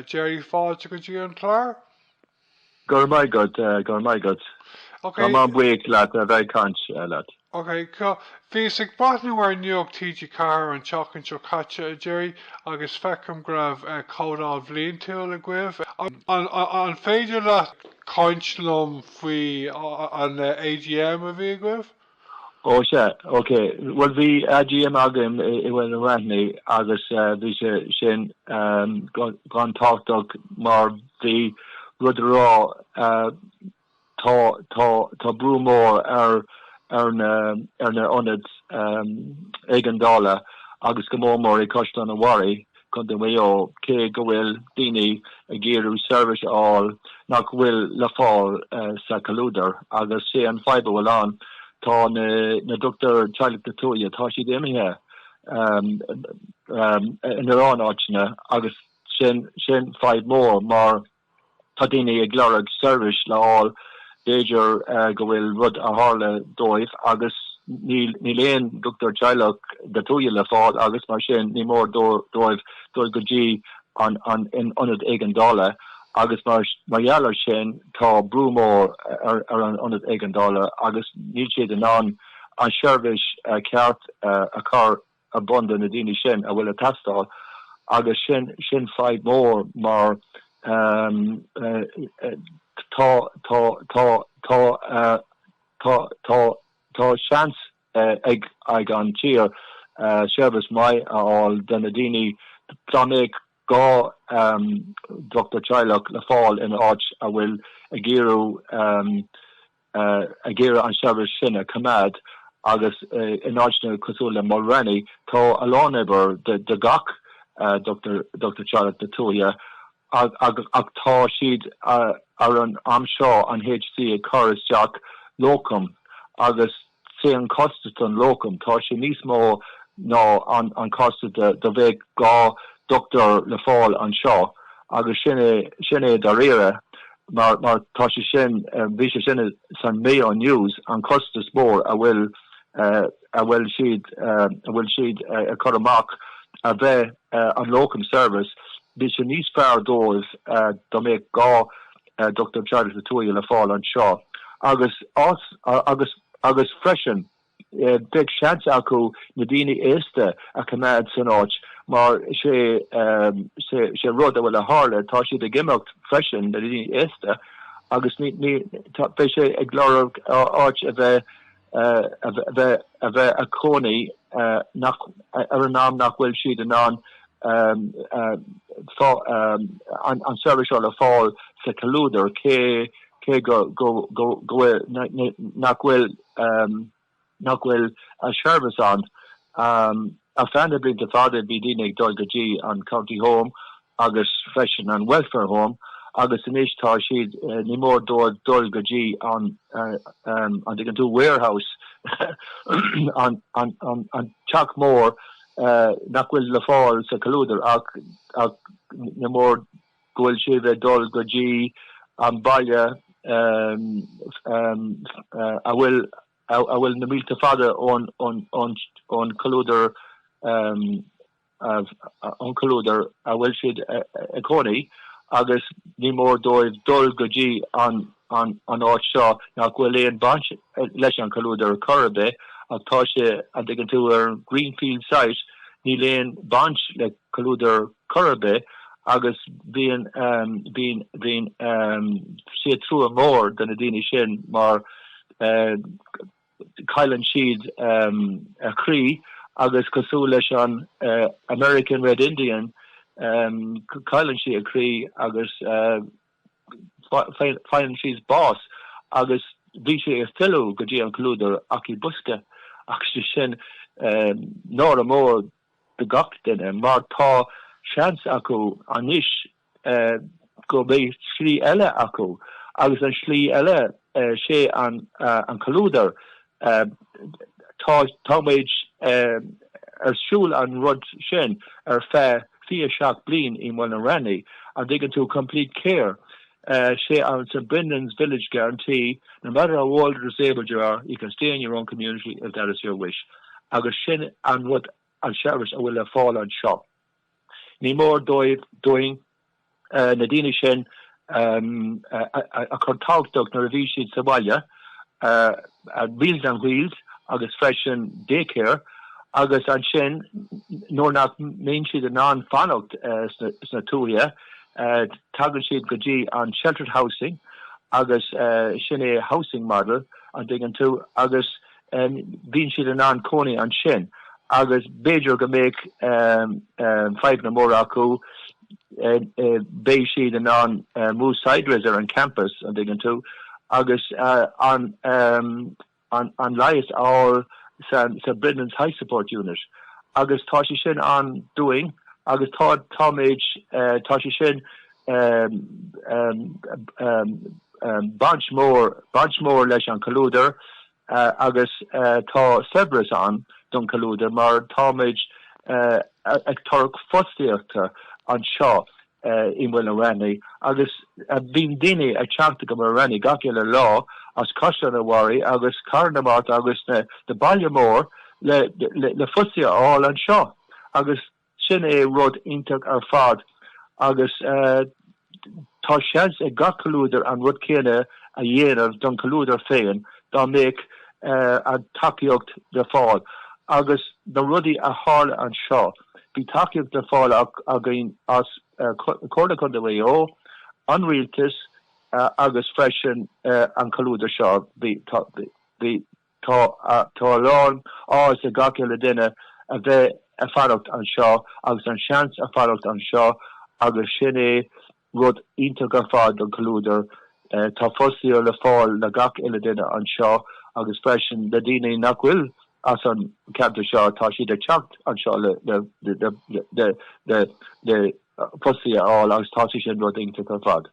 A Gerry, fáilte go dtí an clár. Go raibh maith agat, go raibh maith agat. Tá mé an-bhuíoch leat a bheith ag caint leat. Ok, cool. Bhíos ag breathnú ar Nuacht TG4 an tseachtain seo caite, a Gerry, agus feicim go raibh comhdháil bhliantúil agaibh. An féidir leat caint liom faoi an AGM a bhí agaibh? Ó, sea, ok. Bhuel, bhí AGM againn i Mhaigh na Raithní agus bhí sé sin an-tábhachtach mar bhí rud a rá, tá, tá, tá brú mór ar, ar na, ar na ionaid éigeandála agus go mór mór i gCaisleán an Bharraigh gContae Mhaigh Eo, cé go bhfuil daoine ag iarraidh seirbhís a fháil nach bhfuil le fáil sa chomhluadar. Agus 'sé an fadhb a bhfuil ann, tá na dochtúir teaghlaigh na tuaithe, tá siad imithe in a lán áiteanna agus sin fadhb mór mar, Tá daoine ag lorg seirbhís le fháil, b'fhéidir go bhfuil rud a tharla dóibh agus níl aon dochtúir teaghlaigh na tuaithe le fáil agus mar sin ní mór dóibh dul go dtí an ionad éigeandála agus mar gheall ar sin tá brú mór ar an ionad éigeandála agus níl siad in ann an seirbhís ceart a chur ar bun do na daoine sin a bhfuil ag teastáil agus sin fadhb mór mar tá seans ag an tír seirbhís maith a fháil do na daoine dá mbeadh dhá dhochtúir teaghlaigh le fáil in áit a bhfuil ag iarraidh ag iarraidh an seirbhís sin a choimeád agus in áiteanna cosúil le Mulranny tá a lán oibre do gach dochtúir teaghlaigh na Tuaithe ach tá siad ar an am seo an HC ag cur isteach locum agus 'Sé an costas don locum, tá sé níos mó ná an costas dá mbeadh dhá dochtúir le fáil anseo agus sin sin é dáiríre mar tá sé sin, bhí sé sin san Mayo News an costas mór a bhfuil a bhfuil siad a bhfuil siad a chur amach a bheith an locum service, bheadh sé níos fearr dóibh dá mbeadh dhá dochtúir teaghlaigh na Tuaithe le fáil anseo agus agus agus freisin beidh seans acu na daoine aosta a choimeád san áit mar sé sé sé rud a bhfuil a tharla tá siad ag imeacht freisin na daoine aosta agus ní ní bheidh sé ag lorg áit a bheith a bheith ag cónaí ar an am nach bhfuil siad in ann an tseirbhís seo a fháil sa chomhluadar, cé go nach bhfuil an tseirbhís ann. Ar feadh na blianta fada bhí daoine ag dul go dtí an County Home agus freisin an Welfare Home agus anois tá siad, ní mór dóibh dul go dtí an, an dtuigeann tú, warehouse, an teach mór nach bhfuil le fáil sa chomhluadar ach ní mór go bhfuil siad ag dul go dtí an baile a bhfuil a bhfuil na mílte fada ón chomhluadar a bhfuil siad ag cónaí agus ní mór dóibh dul go dtí an áit seo nach bhfuil aon bhaint leis an chomhluadar ar chor ar bith ach tá sé, an dtuigeann tú, ar Greenfield site, níl aon bhaint le comhluadar chor ar bith agus bíonn, bíonn sé trua mór do na daoine sin mar Cailleann siad a gcroí agus cosúil leis an American Red Indian, cailleann siad a gcroí agus faigheann siad bás agus bíonn siad ag filleadh go dtí an comhluadar ach i bosca agus sé sin náire mór do gach duine mar tá seans acu anois go mbeidh slí eile acu agus an slí eile sé an comhluadar. Tá muid ar siúl an rud sin ar feadh 27 bliain i Mulranny, an dtuigeann tú, complete care. Sé an St Brendan's Village Guarantee, no matter how old or disabled you are, you can stay in your own community if that is your wish. Agus sin an rud, an tseirbhís a bhfuil le fáil anseo. Ní mór dóibh, dúinn, na daoine sin a chur tábhachtach nuair a bhí siad sa bhaile, Meals on Wheels agus freisin Day Care, agus ansin nuair nach mbíonn siad in ann fanacht sna tithe, tagann siad go dtí an Sheltered Housing agus sin é Housing Model, an dtuigeann tú, agus Bíonn siad in ann cónaí ansin agus b'fhéidir go mbeadh fadhbanna móra acu, beidh siad in ann move sideways ar an champas, an dtuigeann tú, agus an leigheas a fháil sa Brendan's High Support Unit. Agus tá sé sin ann dúinn agus táimid, tá sé sin Baint mór, baint mór leis an chomhluadar agus tá saibhreas ann don chomhluadar mar táimid ag tabhairt fostaíochta anseo i Mala Raithní agus bíonn daoine ag teacht go Mala Raithní gach uile lá as Caisleán an Bharraigh agus Cathair na Mart agus na bailte mór le fostaíocht a fháil anseo agus Sin é rud iontach ar fad agus tá seans ag gach comhluadar an rud céanna a dhéanamh don chomhluadar féin dá mbeadh an tacaíocht le fáil. Agus na rudaí a tharla anseo, bhí tacaíocht le fáil againn as Comhairle Contae Mhaigh Eo, an rialtas agus freisin an comhluadar seo. Tá a lán áthas ag gach uile duine a bheith ag fanacht anseo agus an seans a fanacht anseo agus sin é rud iontach ar fad don comhluadar. Tá fostaíocht le fáil le gach uile duine anseo agus freisin le daoine nach bhfuil as an cheantar seo, tá siad ag teacht anseo le fostaí a fháil agus tá sé sin rud iontach ar fad.